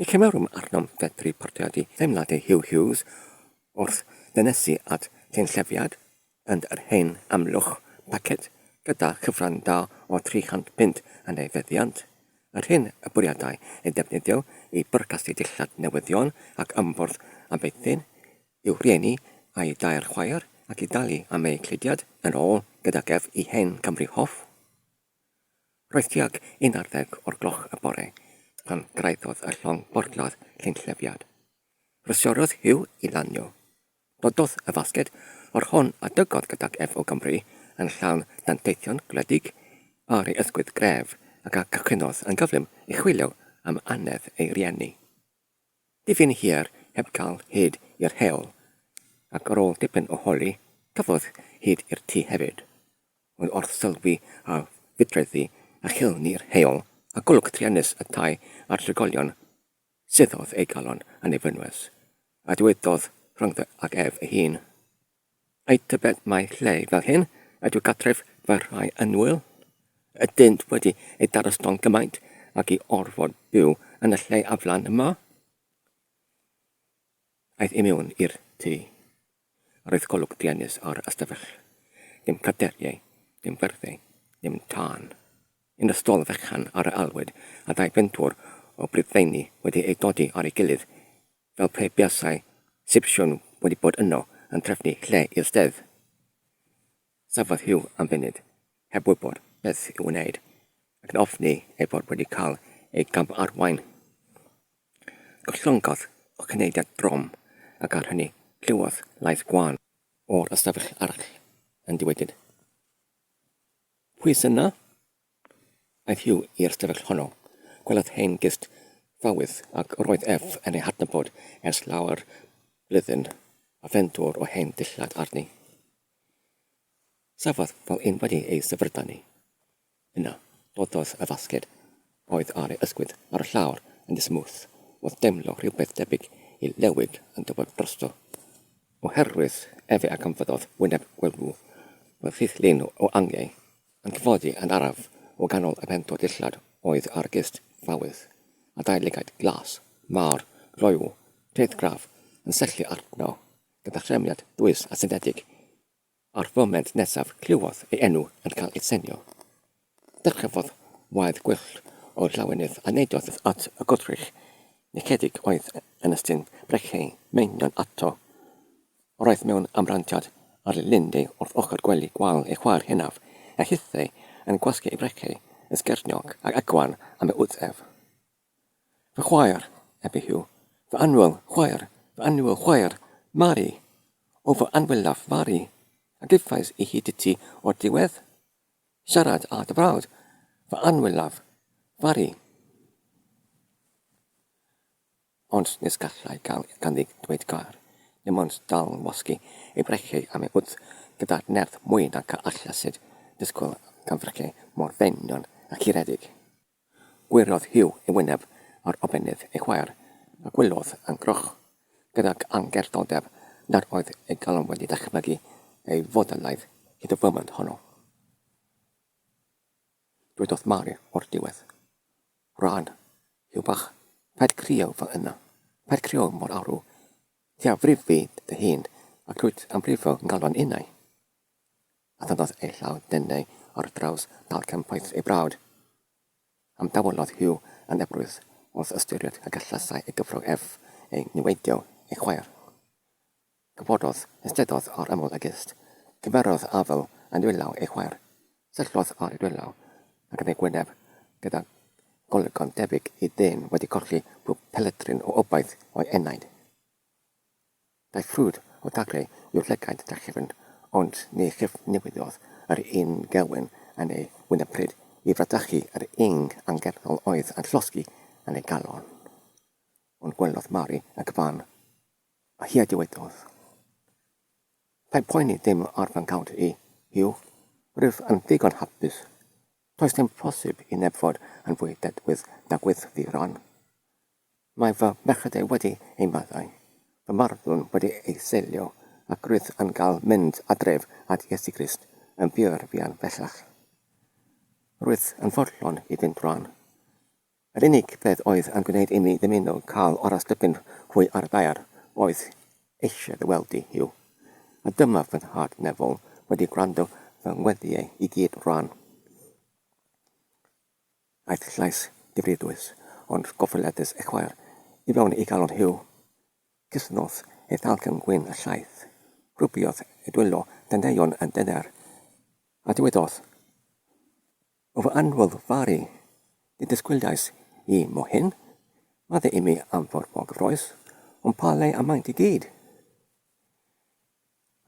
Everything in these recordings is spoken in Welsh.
Ni chymerum arnom fedru portreadu teimladau Huw Hughes wrth ddynesu at gynllefiad yn yr hen Amlwch Packet gyda chyfran da o 300 punt yn ei feddiant, yr hyn y bwriadai ei ddefnyddio i bwrcasu dillad newyddion ac ymfwrdd a feithrin i'w rhieni a'i dair chwaer ac i dalu am eu cludiad yn ôl gydag ef i hen Gymru Hoff. Roedd tuag i'n ar ddeg o'r gloch y bore pan gyrhaeddodd y llong borthladd llynllefiad. Rhysiorodd Huw i lanio. Dododd y fasged o'r hon a dygodd gydag ef o Gymru yn llawn danteithion gwledig ar ei ysgwydd gref ac a gychwynnodd yn gyflym i chwilio am annedd ei rieni. Dipyn hir heb gael hyd i'r heol, ac ar ôl dipyn o holi, cafodd hyd i'r tŷ hefyd. Ond wrth sylwi ar fudreddi a chilni'r heol a golwg truenus y tai a'r trigolion, suddodd ei galon a nefynwes, a dywedodd rhyngddo ag ef ei hun. Ai tybed mai lle fel hyn ydyw gartref fy rhai annwyl? Ydynt wedi ei darosto'n gymaint ag i orfod byw yn y lle aflan yma? Aeth i mewn i'r tŷ. Roedd golwg druenus ar ystafell. Dim caderiau, dim fyrddau, dim tân. Un o stôl fechan ar yr alwyd a dau fentwr o brydfeini wedi eu dodi ar ei gilydd fel pe buasai Sipsiwn wedi bod yno yn trefnu lle i'r stedd. Safodd Huw am funud, heb wybod beth i'w wneud, ac yn ofni ei fod wedi cael ei gam-arwain. Gollongodd y cynulliad drom, ac ar hynny clywodd lais gwan o'r ystafell arall yn diwedyd. Pwy sy'na? Aeth Hugh i'r stafell honno. Gwelodd hen gist ffawydd ac yr oedd ef yn ei hadnabod ers lawer blwyddyn, a phen dwr o hen ddillad arni. Safodd fel un wedi ei syfrdanu. Yna, dododd y fasged oedd ar ei ysgwydd ar y llawr yn ddismwth, oedd deimlo rhywbeth debyg i lewig yn tywod drosto. Oherwydd efe a ganfyddodd wyneb gwelw, roedd rhydd lun o angiau Yn tlodi yn araf o ganol y pentor dillad oedd argist fawyd, a dau lygaid glas, mawr, gloyw, teiddgraf, yn syllu arno gyda threfniad dwys a synthetig. A'r foment nesaf clywodd ei enw yn cael ei senio. Dyrchafodd waed gwyllt o'r llawenydd a neidiodd at y gwrthrych nechedig oedd yn ystyn brechlei meinion ato. Roedd mewn amrantiad ar linde wrth ochr gwely gwal ei chwaer hynaf, a hithau yn gwasgu ei frecei yn sgerniog ac agwan am ei wddf. Fy chwaer, ebe Huw, fy annwyl chwaer, fy annwyl chwaer, Mari! O fy anwylaf Mari! A gefais i hyd iti o'r diwedd? Siarad â dy frawd, fy anwylaf Mari! Ond nes gallai gael ganddi ddweud gair, dim ond dal yn wasgu ei breichiau am ei wddf gyda'r nerth mwy nag a allasid ddisgwyl gan freichiau mor fenyn a churedig. Gwirodd Huw ei wyneb ar obennydd ei chwaer a gwyliodd yn groch, gydag angerddordeb, nad oedd ei galon wedi dychmygu ei fodolaeth hyd y foment honno. Dwedodd Mari o'r diwedd, Rhan, Huw bach, paid crieu fo yna. Paid crieu mor arw. Ti a frif fi dy hun, ac rwyt am brifo ngalon innau. A thynnodd ei llaw denau ar draws dalcen poeth ei brawd. Am dawellodd Huw yn ebrwydd wrth ystyried y gallasai ei gyfrol ef ei niweidio ei chwaer. Cofododd, esteddodd ar ymyl y gist. Cymerodd afl yn dwylaw ei chwaer. Syllodd ar ei dwylaw ac yn ei gwyneb, gyda golygon debyg i ddyn wedi colli pob peledrin o obaith o'i enaid. Daeth ffrwd o dagrau i'w llygaid drachefn, ond ni chyfnewidodd yr un gewyn yn ei wyneb pryd i fradychu yr ing angerddol oedd yn llosgi yn ei galon. Ond gwelodd Mari y cyfan. Hi a dywedodd, Paid poeni ddim ar fy nghawnt i, Huw. Rwyf yn ddigon hapus. Does dim posib i neb fod yn fwy dedwydd na gweithdy Ron. Mae fy merched wedi ei maddau, fy marddwn wedi ei seilio, ac rwyf yn cael mynd adref at Iesu Grist yn buarfian bellach. Rwyf yn fodlon i fynd rwan. Yr unig beth oedd yn gwneud imi ddymuno cael aros dipyn hwy ar y daear oedd eisiau dy weld di, Huw. A dyma fy nhad Neville wedi gwrando fy ngweddiau i gyd rwan. Aeth llais difridus, ond gofyledus ei chwaer, i fewn i galon Huw. Cysnodd ei thalcen gwyn â llaeth, rhwbiodd ei dwylo dandeion yn dyner, a dywedodd, O fy anwyllt faru, dy ddisgwyliais i mo hyn, Madde imi am fod mor gyffrous, ond pa le a maent i gyd?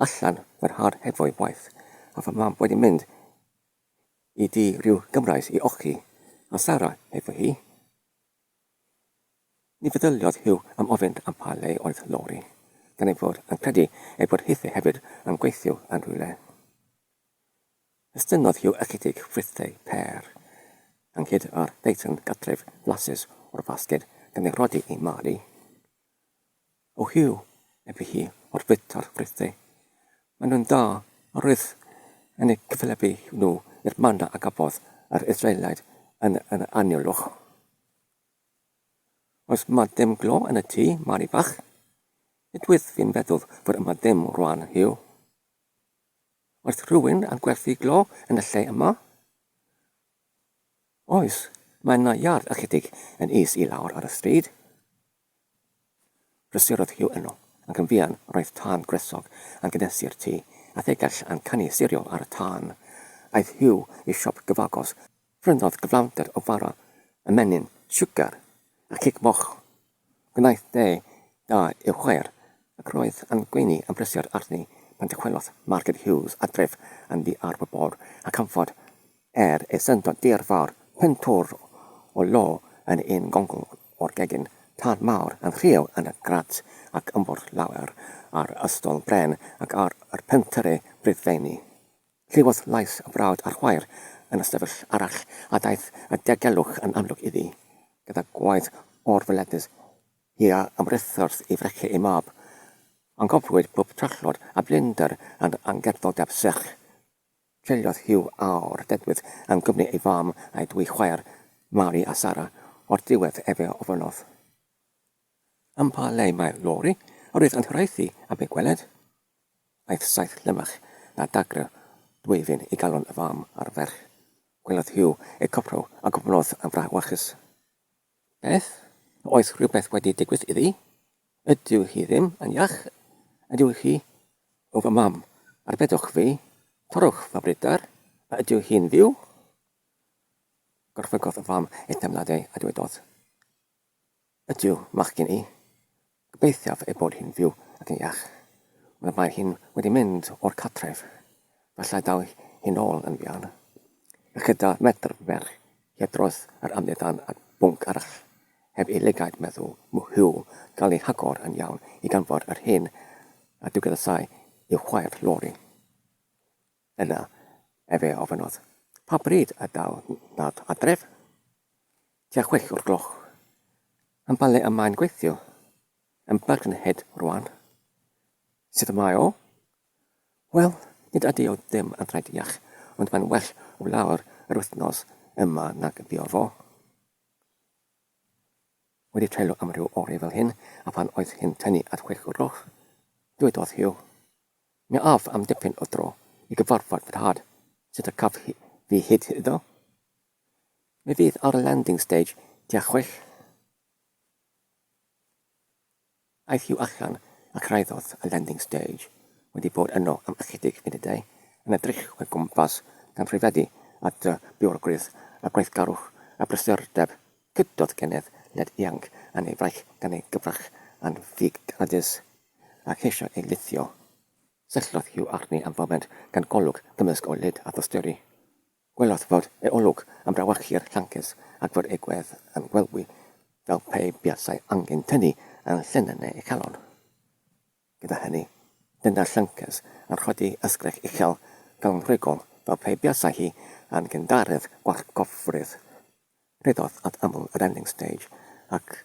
Allan fy nhad hefo'i waith, a fy mam wedi mynd i dŷ rhyw Gymraes i ochi, a Sara hefo hi. Ni feddyliodd Huw am ofyn am pa le oedd Lori, gan ei fod yn credu ei bod hithe hefyd yn gweithio yn rhywle. Estynnodd Hugh ychydig frithau pêr, ynghyd â'r ddeitan gadref flasus o'r fasged gan ei rhoddi i Mary. O Hugh, ebydd hi, o'r fwyta'r frithau. Maen nhw'n dda, a roedd yn eu cyfathrebu nhw i'r manna a gafodd yr Israelaidd yn yr anialwch. Oes 'ma ddim glo yn y tŷ, Mary fach? Nid wyf fi'n feddwl fod yma ddim rwan, Hugh. Oes rhywun yn gwerthu glo yn y lle yma? Oes, mae yna iard ychydig yn is i lawr ar y stryd. Prysurodd Hugh yno, ac yn fuan roedd tân gwresog yn gynhesu'r tŷ, a thegell yn canu sirio ar y tân. Aeth Hugh i siop gyfagos, Prynodd gyflawnder o fara ymenyn, siwgar, a cig moch. Gwnaeth dei da i'w chwaer, ac roedd yn gweini am brysur arni pan dychwelodd Margaret Hughes adref yn ddiarwybod, a chanfod, er ei syndod dirfawr, pentwr o lo yn un gongl o'r gegin, tân mawr yn rhyw yn y grat, ac ymbwrdd lawer ar ystol bren ac ar y pentyrru brydfeini. Clywodd lais y brawd a'r chwaer yn ystafell arall a daeth y diogelwch yn amlwg iddi. Gyda gwaed o'r feledydd hi a ymhrithodd i frechu ei mab. Anghofwyd pwb trallod a blinder yn angerddodeb serch. Treuliodd Hugh awr dedwydd yn gwmni ei fam a'i dwy chwaer, Mary a Sarah, o'r diwedd efe ofynnodd. Am pa le mae'r lori? Yr oedd yn hiraethu am ei gweled. Aeth saith llymach na dagrau dwyfyn i galon y fam a'r ferch. Gwelodd Hugh eu coprau a gofynnodd yn frawychus, Beth? A oes rhywbeth wedi digwydd iddi? Ydyw hi ddim yn iach? Ydyw hi? O fy mam, arbedwch fi, torrwch fy bryder, a ydyw hi'n fyw? Gorfygodd y fam ei theimladau a dywedodd, Ydyw, machgen i. Gobeithiaf ei bod hi'n fyw ac yn iach. Ond mae hi wedi mynd o'r cartref. Falle daw hi'n ôl yn fuan. Ychydig metr ferch hi dros yr amgueddfan at bwnc arall. Heb ei lygaid, medda Huw, cael ei hagor yn iawn i ganfod yr hen ddiwgyddasau i'w chwaer Lori. Yna, efe ofynnodd, Pa bryd y daw nhad adref? Tua chwech o'r gloch. Yn pa le y mae'n gweithio? Yn Birkenhead rwan. Sut y mae o? Wel, nid ydy o ddim yn rhediach, ond mae'n well o lawer yr wythnos yma nag fuodd o. Wedi treulio am ryw oreu fel hyn, a phan oedd hi'n tynnu at chwech o'r gloch, dywedodd Hugh, Mi aeth am dipyn o dro i gyfarfod fy nhad, sut y caf fi hyd iddo? Mi fydd ar y landing stage tua chwech. Aeth Hugh allan a cyrhaeddodd y landing stage, wedi bod yno am ychydig funudau, yn edrych o'i gwmpas gan rhyfeddu at y biorgrwydd, y gweithgarwch, y brysurdeb, Cydiodd gennyf led ianc yn ei fraich gan ei gyfrach yn figradus, a cheisio ei lithio. Syllodd Hugh arni am foment gan golwg gymysg o lid a thosteri. Gwelodd fod ei olwg yn brawychu'r llances ac fod ei gwedd yn gwelwi fel pe buasai angen tynnu yn llinyn ei chalon. Gyda hynny, dyna'r llynges yn rhoddi ysgrech uchel gawngrugol fel pe buasai hi yn gyndarydd gwallgofrwydd. Rheddodd at ymyl yr ending stage ac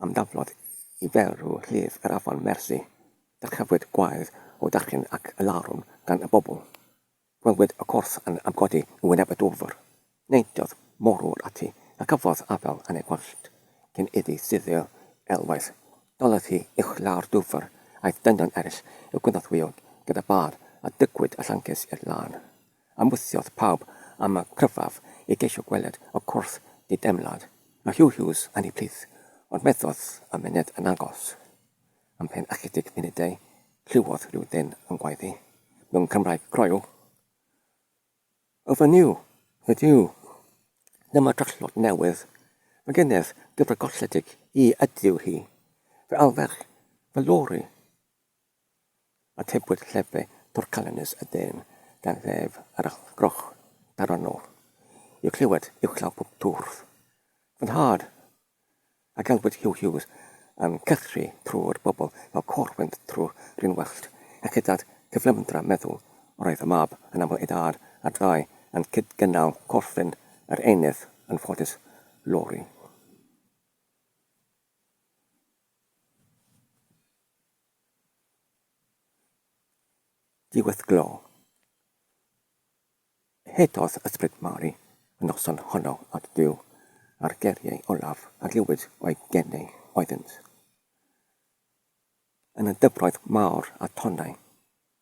ymdaflodd i ferw llif yr afon Mersey. Dyrchafwyd gwaed o dachyn ac alarwm gan y bobl. Gwelwyd y corff yn amgodi yn wyneb y dwfr. Neidiodd morwr ati, a cafodd afael yn ei wallt. Cyn iddi suddio elwaith, dalodd hi uchelau'r dwfr, aeth dynion eraill i'w gynorthwyo gyda bâr, a dygwyd y llances i'r lân. Ymwysiodd pawb am y cryfaf i geisio gweled y corff di-deimlad. Mae Huw Hughes yn ei plith, ond methodd y myned yn agos. Ymhen ychydig munudau, clywodd rhyw ddyn yn gwaeddu, mewn Cymraeg croyw, Ofyniw! Ofyniw! Dyma drallod newydd. Mae gennyf gyfer golledig hi ydyw hi. Fe alwech fy lori! Atebwyd llefe torcalonnus y dyn gan ddef yr allgroch daronol, i'w chlywed uwchlaw pob twrf. Fy nhad, A gan fod Huw Hughes yn cythru trwy'r bobl fel côr fynd trwy'r run wyllt, ac hyd at gyflymdra meddwl, roedd y mab yn aml ei dad a'r ddau yn cyd-gynnal corfflin yr einydd yn ffodus, Laurie. Diweddglo. Hedodd Ysbryd Mari y noson honno at Dduw, a'r geiriau olaf a glywid o'i gen ei oeddynt. Yn y dyfroedd mawr a tonnau,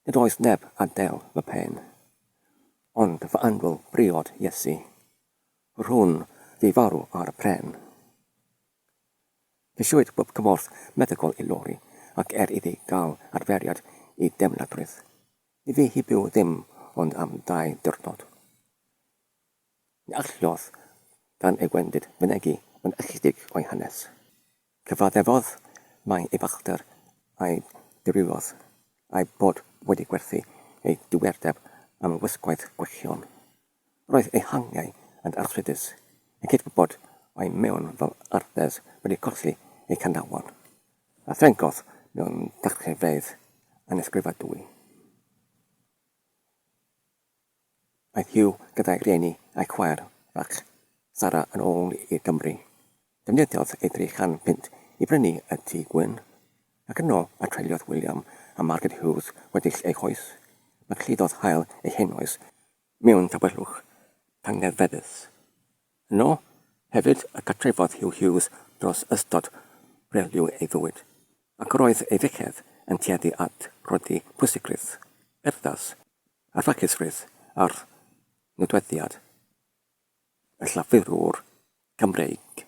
nid oes neb a del fy mhen. Ond fy anwyl briod Iesu, rhwn fi farw ar y pren. Ceisiwyd bob cymorth meddygol i Lori ac er iddi gael adferiad i deimladrwydd, Ni fu hi byw ddim ond am dau ddiwrnod. Ni alliodd gan ei wendid fynegi ond ychydig o'i hanes. Cyfaddefodd mai ei fachder a'i dirywiodd, a'i bod wedi gwerthu ei diwerdeb am wisgoedd gwychion. Roedd ei hangiau yn arthritis, yn cydwybod mai mewn fel ardes wedi colli ei chanlawon, a threngodd mewn cartrefedd anesgrifadwy. Aeth Hugh gyda'i rieni a'i chwaer fach, Sarah yn ôl i Gymru. Defnyddiodd ei dri chan punt i brynu y tŷ gwyn, ac yno a treuliodd William a Margaret Hughes weddill eu hoes. Mae cludodd hael eu henoes mewn tawelwch tangnefeddus. Yno hefyd y cartrefodd Huw Hughes dros ystod briliw ei fywyd, ac yr oedd ei fechedd yn tueddu at rodi pwysigrwydd, urddas, a ffacusrwydd ar nodweddiad y Llafurwr Gymreig.